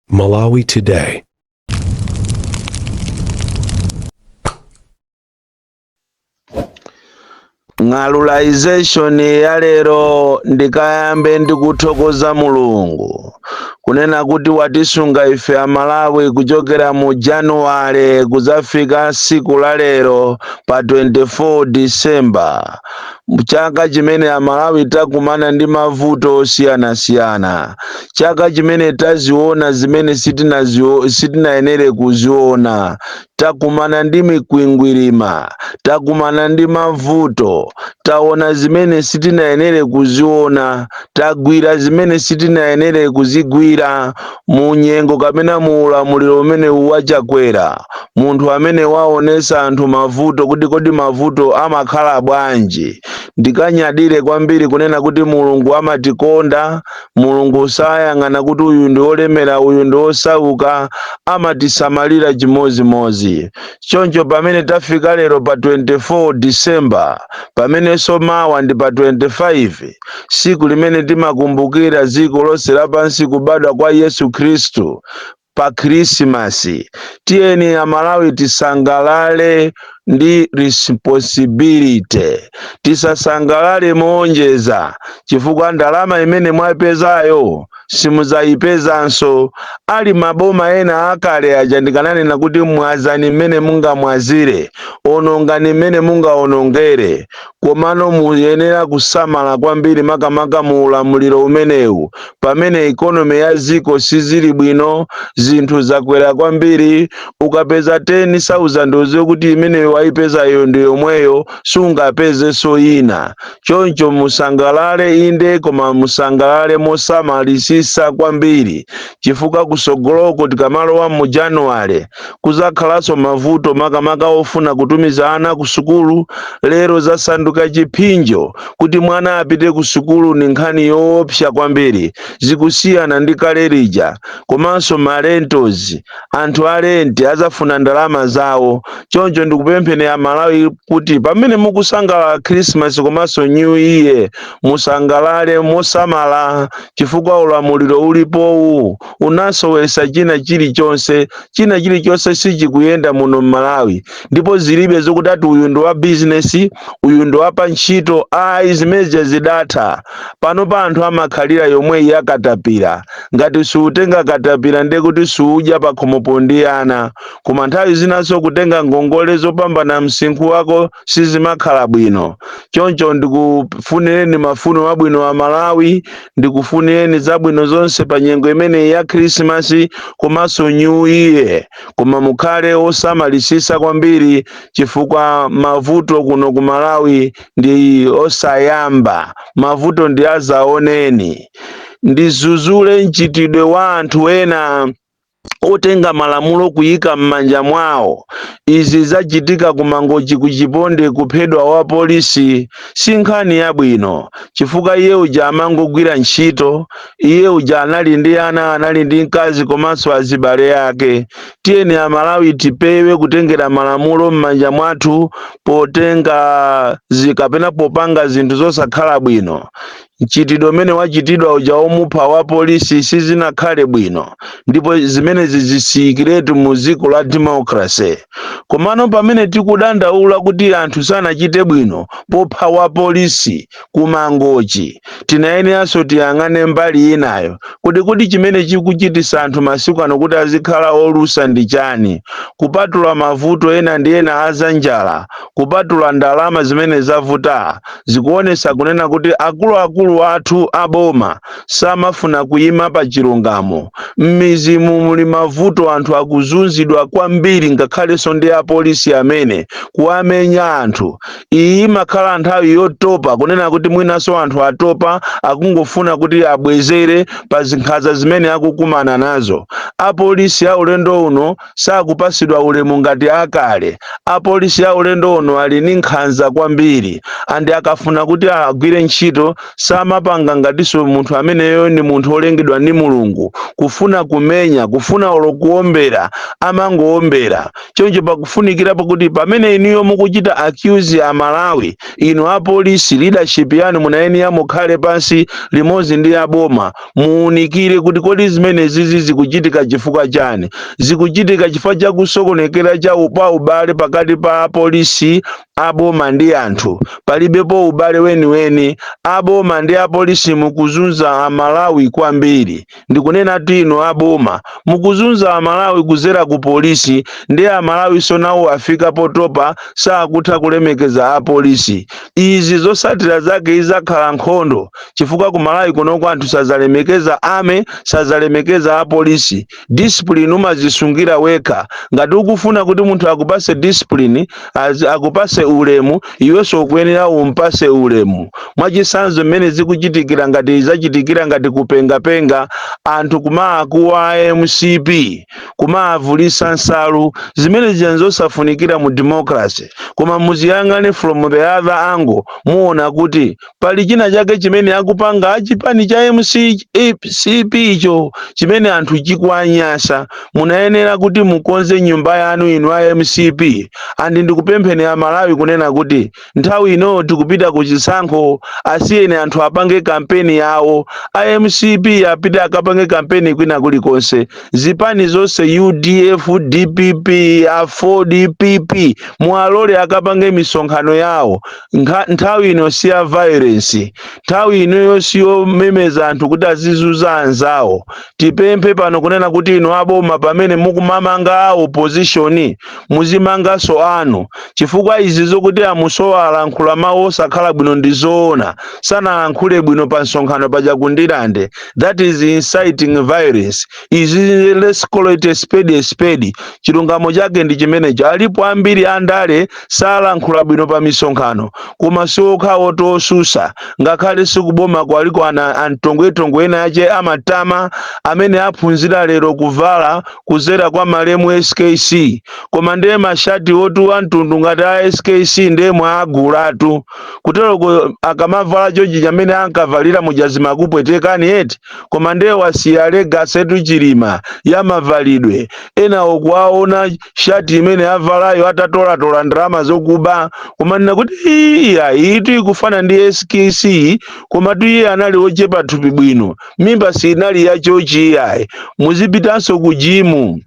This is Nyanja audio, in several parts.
Malawi Today. ng'alulization ya lero ndikayambe ndi kuthokoza mulungu kunena kuti watisunga ife amalawi kuchokera mu januwale kuzafika siku la lero pa 24 disemba chaka chimene amalawi takumana ndi mavuto osiyanasiyana chaka chimene taziona zimene sitinayenere kuziona takumana ndi mikwingwirima takumana ndi mavuto taona zimene sitinayenere kuziona tagwira zimene sitinayenere kuzigwira Mu nyengo kapena mu ulamuliro umenewu wa Chakwera, munthu amene waonesa anthu mavuto kuti kodi mavuto amakhala bwanji, ndikanyadire kwambiri kunena kuti Mulungu amatikonda, Mulungu sayang'ana kuti uyu ndi olemera uyu ndi osauka, amatisamalira chimodzimodzi. Choncho pamene tafika lero pa 24 December, pamenenso mawa ndi pa 25, siku limene timakumbukira dziko lonse lapansi kubadwa kwa yesu khristu pa khrisimasi tiyeni amalawi tisangalale ndi responsibility tisasangalale moonjeza chifukwa ndalama imene mwaipezayo simuzayipezanso ali maboma ena akale aja ndikananena kuti mwazani mmene mungamwazire onongani mmene mungaonongere Komano muyenera kusamala kwambiri makamaka mu ulamuliro umenewu pamene economy ya dziko sizili bwino, zinthu zakwera kwambiri, ukapeza 10,000 udziwe kuti imene waipeza iyo ndi yomweyo sungapezenso ina. Choncho musangalale inde koma musangalale mosamalisisa kwambiri chifukwa kusogoloko tikamalowa mu January, Kuzakhalanso mavuto makamaka ofuna kutumiza ana ku sukulu, lero zasanduka chiphinjo kuti mwana apite ku sukulu ndi nkhani yoopsa kwambiri zikusiyana ndi kale lija komanso ma rentals anthu a rent azafuna ndalama zawo choncho ndikupempheni a Malawi kuti pamene mukusangalala Christmas komanso New Year musangalale mosamala chifukwa ulamuliro ulipowu unasowesa china chilichonse china chilichonse sichikuyenda muno mmalawi ndipo zilibe zokuti ati uyu ndi wa bizinesi uyu ndi wapa ntchito ayi zimenezo zidatha panopa anthu amakhalira yomweyi ya katapira ngati siutenga katapira ndiye kuti siudya pakhomopo ndi ana koma nthawi zinanso kutenga ngongole zopambana msinkhu wako sizimakhala bwino choncho ndikufunireni mafuno abwino a malawi ndikufunireni zabwino zonse pa nyengo imeneyi ya khrisimasi komanso new year koma mukhale osamalisisa kwambiri chifukwa mavuto kuno ku malawi ndi osayamba mavuto ndi azaoneni ndizuzule mchitidwe wa anthu ena otenga malamulo kuyika mmanja mwawo izi zachitika ku mangochi ku chiponde kuphedwa wa polisi si nkhani yabwino chifukwa iye uja amangogwira ntchito iye uja anali ndi ana anali ndi mkazi komanso azibale ake tiyeni amalawi tipewe kutengera malamulo mmanja mwathu potenga kapena popanga zinthu zosakhala bwino Mchitidwe umene wachitidwa uja womupha wa polisi sizinakhale bwino ndipo zimenezi zisiyikiretu mu dziko la democracy. Komano pamene tikudandaula kuti anthu sanachite bwino popha wa polisi ku Mangochi, tinayeneranso tiyang'ane mbali inayo. Kodi kodi chimene chikuchitisa anthu masiku ano kuti azikhala olusa ndi chani? Kupatula mavuto ena ndi ena a za njala, kupatula ndalama zimene zavutaa, zikuonesa kunena kuti akuluakulu athu aboma samafuna kuyima pa chilungamo. Mmizi mu muli mavuto anthu akuzunzidwa kwambiri ngakhalenso ndi apolisi amene kuwamenya anthu. Iyi imakhala nthawi yotopa kunena kuti mwinanso anthu atopa akungofuna kuti abwezere pa nkhanza zimene akukumana nazo. Apolisi a ulendo uno sakupasidwa ulemu ngati akale. Apolisi a ulendo uno ali ni nkhanza kwambiri and akafuna kuti agwire ntchito samapanga ngatiso munthu ameneyo ni munthu olengedwa ni Mulungu. Kufuna kumenya, kufuna olo kuombera amangoombera. Choncho pakufunikira pakuti pamene inuyo mukuchita accuse a Malawi, inu apolisi leadership yanu munayenera mukhale pansi limodzi ndi aboma muunikire kuti kodi zimenezizi zikuchitika chifukwa chani zikuchitika chifukwa cha kusokonekera kwa ubale pakati pa apolisi aboma ndi anthu palibepo ubale weniweni aboma ndi apolisi mukuzunza amalawi kwambiri ndikunena kuti inu aboma mukuzunza amalawi kuzera ku polisi ndi amalawi sonawo afika potopa sakutha kulemekeza apolisi izi zosatira zake izakhala nkhondo chifukwa ku malawi kunoko anthu sadzalemekeza ame sadzalemekeza apolisi discipline umazisungira wekha ngati ukufuna kuti munthu akupase discipline az- akupase ulemu iwenso ukuyenera umpase ulemu mwachisanzo mmene zikuchitikira ngati zachitikira ngati kupengapenga anthu kumaakuwa mcp kumaavulisa nsalu zimene zija zosafunikira mu democracy koma muziyang'ane from the other angle muona kuti pali china chake chimene akupanga chipani cha mcp icho chimene anthu chikuanyansa munayenera kuti mukonze nyumba yanu inu a mcp andi ndikupempheni aMalawi kunena kuti nthawi ino tikupita ku chisankho asiyeni anthu apange kampeni yawo a mcp apite akapange kampeni kwina kulikonse zipani zonse udf dpp aford pp mualole akapange misonkhano yawo nthawi ino si ya violence nthawi inoyo si yomemeza anthu kuti azizuza anzawo tipemphe pano kunena kuti inu aboma pamene mukumamanga a opposition muzimanganso anu chifukwa izi zokuti amusowa alankhula mawu osakhala bwino ndi zoona sanalankhule bwino pa msonkhano paja ku ndirande that is inciting violence izi let's call it a spade a spade chilungamo chake ndi chimenecho alipo ambiri andale salankhula bwino pa misonkhano koma siokha otsusa ngakhale ndi kuboma kuliko ana antongwetongwe ena ache amatama amene aphunzira lero kuvala kuzera kwa malemu skc koma ndiye mashati otu amtundu ngati a skc ndiye mwaagulatu kuteroko akamavala chochi chimene ankavalira muja zimakupwetekani eti koma ndiye wasiya legacy etu chilima ya mavalidwe enawo kuwaona shati imene avalayo atatolatola ndalama zokuba koma ndina kuti iyayi iyitu ikufana ndi skc komatu iye anali ochepa thupi bwino mimba siinali yachochi iyayi muzipitanso ku jimu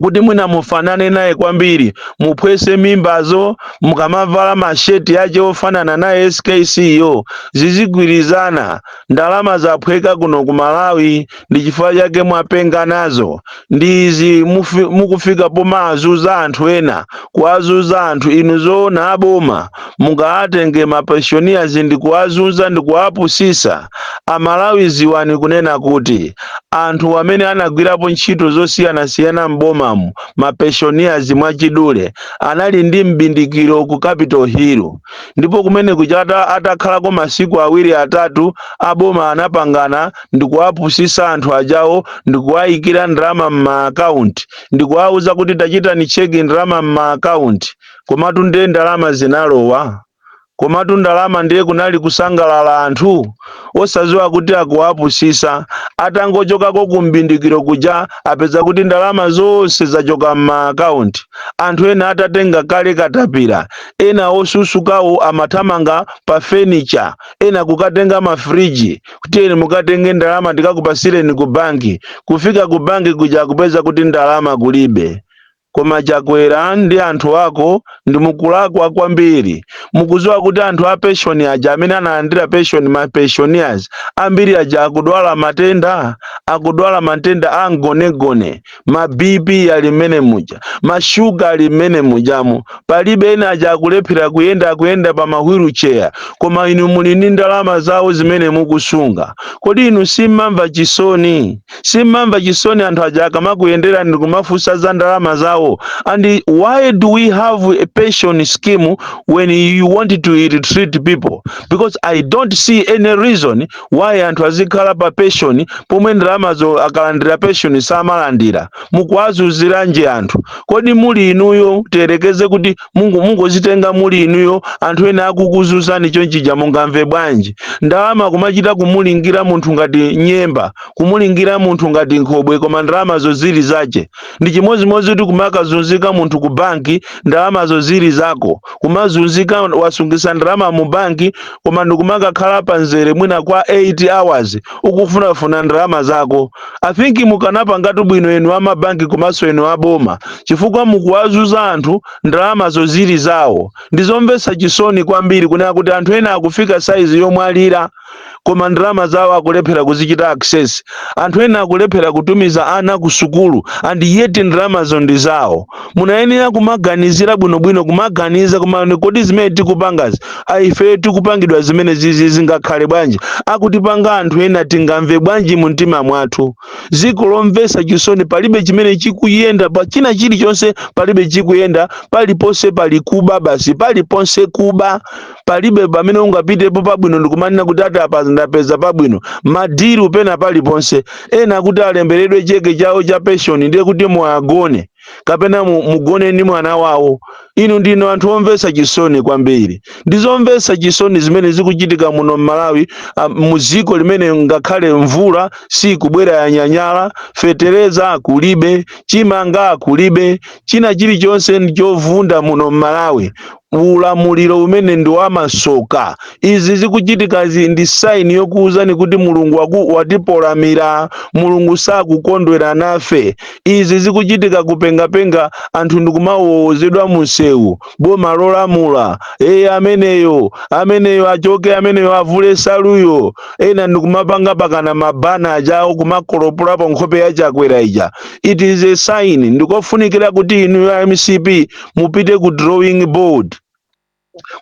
kuti mwina mufanane naye kwambiri muphwese mimbazo mukamavala masheti yache ofanana naye skc yo zizigwirizana ndalama zaphweka kuno ku malawi ndi chifukwa chake mwapenga nazo ndi izi mufi- mukufika pomaazuza anthu ena kuazuza anthu inu zoona aboma mungaatenge ma pensioners ndikuwazunza ndikuwapusisa amalawi ziwani kunena kuti anthu amene anagwirapo ntchito zosiyanasiyana m'bomamu ma pensioners mwachidule anali ndi m'bindikiro ku capital hill ndipo kumeneku chatha atakhalako masiku awiri atatu aboma anapangana ndikuwapusisa anthu ajawo ndikuwayikira ndalama m'maakaunti ndikuwauza kuti tachitani cheki ndalama m'maakaunti komatu ndiye ndalama zinalowa komatu ndalama ndiye kunali kusangalala anthu osaziwa kuti akuwapusisa atangochokako kumbindikiro kuja apeza kuti ndalama zonse zachoka m'maakaunti anthu ena atatenga kale katapira ena osusukawo amathamanga pa fenicha ena kukatenga mafriji kuti eni mukatenge ndalama ndikakupasireni ku banki kufika ku banki kuja kupeza kuti ndalama kulibe Koma chakwera ndi anthu ako mukulakwa kwambiri mukuziwa kuti anthu a penshoni aja amene analandira penshoni ma pensioners ambiri aja akudwala matenda akudwala matenda a mgonagona ma bp ali mmene muja ma sugar ali mmene mujamo palibe ena aja akulephera kuyenda akuyenda pa ma wheelchair koma inu muli ndi ndalama zawo zimene mukusunga kodi inu simmamva chisoni Simmamva chisoni anthu aja akamakuyenderani ndikumafunsa za ndalama zawo and why do we have a pension scheme when you want to ill-treat people because I don't see any reason why anthu azikhala pa pension pomwe ndalamazo akalandira pension samalandira mukuwazunziranji anthu kodi muli inuyo tiyerekeze kuti mungu mungozitenga muli inuyo anthu ena akukuzunzani chonchija mungamve bwanji ndalama kumachita kumulingira munthu ngati nyemba kumulingira munthu ngati nkhobwe koma ndalamazo zili zache ndi chimodzimodzi kuti kumakazunzika munthu ku banki ndalamazo zili zako kumazunzika wasungisa ndalama mu banki koma ndikumakakhala pa mzere mwina kwa 8 hours ukufunafuna ndalama zako i think mukanapangatu bwino inu amabanki komanso inu aboma chifukwa mukuwazunza anthu ndalamazo zili zawo ndizomvetsa chisoni kwambiri kunena kuti anthu ena akufika saizi yomwalira koma ndalama zawo akulephera kuzichita access anthu ena akulephera kutumiza ana ku sukulu and yet ndalamazo ndi zawo munayenera kumaganizira bwinobwino kumaganiza kuti koma kodi zimene tikupangazi ifeyo tikupangidwa zimene zizi zingakhale bwanji akutipanga anthu ena tingamve bwanji mu mtima mwathu dziko lomvetsa chisoni palibe chimene chikuyenda pa china chilichonse palibe chikuyenda paliponse pali kuba basi paliponse kuba palibe pamene ungapitepo pabwino ndikumanena kuti ati apa ndapeza pabwino madilu pena paliponse ena kuti alemberedwe cheke chawo cha penshoni ndiye kuti muwagone kapena mu- mugone ndi mwana wawo inu ndinu anthu omvetsa chisoni kwambiri ndi zomvetsa chisoni zimene zikuchitika muno m'malawi ah, mu dziko limene ngakhale mvula sikubwera yanyanyala fetereza kulibe chimanga kulibe china chilichonse ndi chovunda muno m'malawi ulamuliro umene ndi wamasoka. Izi zikuchitika ndi sign yokuwuzani kuti Mulungu waku, watifulatira. Mulungu sakukondwera nafe. Izi zikuchitika kupengapenga anthu ndikumawowozedwa munsewu. Boma lolamula eye ameneyo ameneyo achoke ameneyo avule nsaluyo ena ndikumapanga pakana mabanner ajawo kumakolopolapo nkhope ya chakwera ija. It is a sign ndikofunikira kuti inuyo a mcp mupite ku drawing board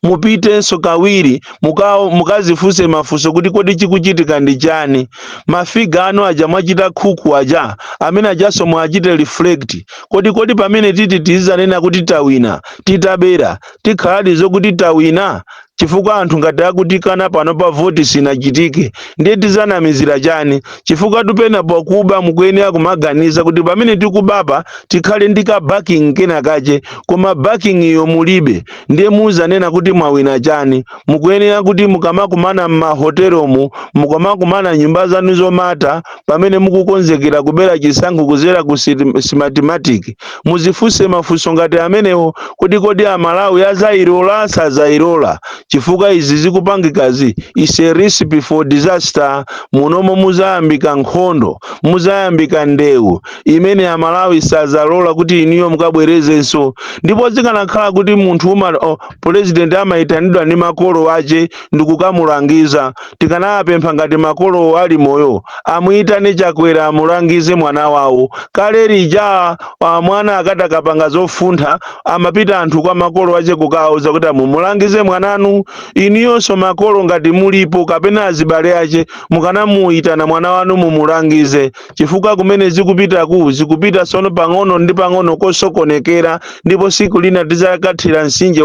mupitenso kawiri muka- mukazifunse mafunso kuti kodi chikuchitika ndi chani mafiga anu aja mwachita khuku aja amene ajanso mukachite reflect kodi kodi pamene titi tizanena kuti tawina titabera tikhaladi zokuti tawina chifukwa anthu ngati akutikana pano pa voti sinachitike ndiye tizanamizira chani chifukwa tupena pakuba mukuyenera kumaganiza kuti pamene tikubapa tikhale ndi ka backing kena kache koma backing iyo mulibe ndiye muzanena kuti mwawina chani mukuyenera kuti mukamakumana m'mahotelomu mukamakumana m'nyumba zanu zomata Pamene mukukonzekera kubera chisankho kudzera ku Smartmatic, mudzifunse mafunso ngati amenewo kuti kodi a Malawi adzailola? Sadzailola? Chifukwa izi zikupangikazi is a recipe for disaster, munomo mudzayambika nkhondo, mudzayambika ndewu imene a Malawi sadzalola kuti inuyo mukabwerezenso. Ndipo zikanakhala kuti munthu uma, oh, President amaitanidwa ndi makolo ache, ndikukamulangiza tikanawapempha ngati makolowo ali moyo amuyitane chakwera amulangize mwana wawo kale lija ah, mwana akatakapanga zofuntha amapita anthu kwa makolo ache kukawauza kuti a mumulangize mwananu inuyonso makolo ngati mulipo kapena azibale ache mukanamuyitana mwana wanu mumulangize chifukwa kumene zikupitaku zikupita sono pang'ono ndi pang'ono kosokonekera ndipo siku lina tizakathira msinje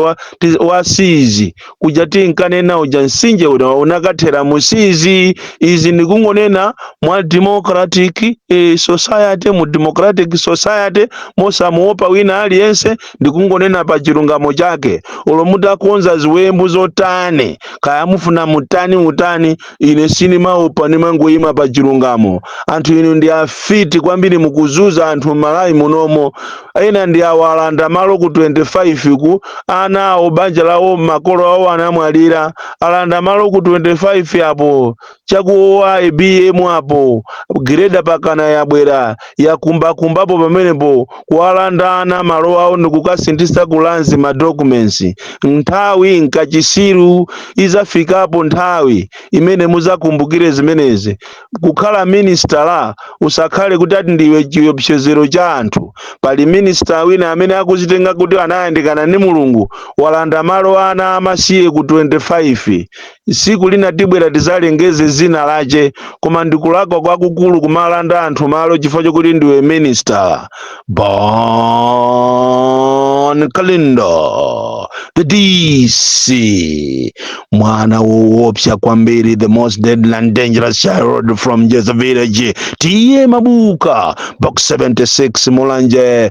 wa sizi kuja tinkanena uja msinje uja unakathera mu sizi izi ndikungonena mwa democratic eh, society mu democratic society mosamuopa wina aliyense ndikungonena pa chilungamo chake olo mutakonza ziwembu zotani kaya mufuna mutani utani ine sindimaopa ndimangoyima pa chilungamo anthu inu ndi afiti kwambiri mukuzunza anthu m'Malawi munomo ena ndi awo alanda malo ku 25 ku ana awo banja lawo makolo awo anamwalira alanda malo ku 25 apo cha kwa IBM apo greda pakana yabwera yakumbakumbapo pamenepo kuwalanda ana malo awo ndikukasinthitsa ku Lands ma documents nthawi nkachisiru izafikapo nthawi imene muzakumbukire zimenezi kukhala minister usakhale kuti ati ndiwe chiopsezero cha anthu pali minista wina amene akuzitenga kuti anayandikana ndi mulungu walanda malo ana amasiye ku 25 Tsiku lina tibwera tizalengeze dzina lache, koma ndi kulakwa kwakukulu kumalanda anthu malo chifukwa chokuti ndiwe minister. Bon Kalindo, the DC, mwana woopsa kwambiri, the most deadly and dangerous child from Jeza village, T.A. Mabuka, box 76 Mulanje,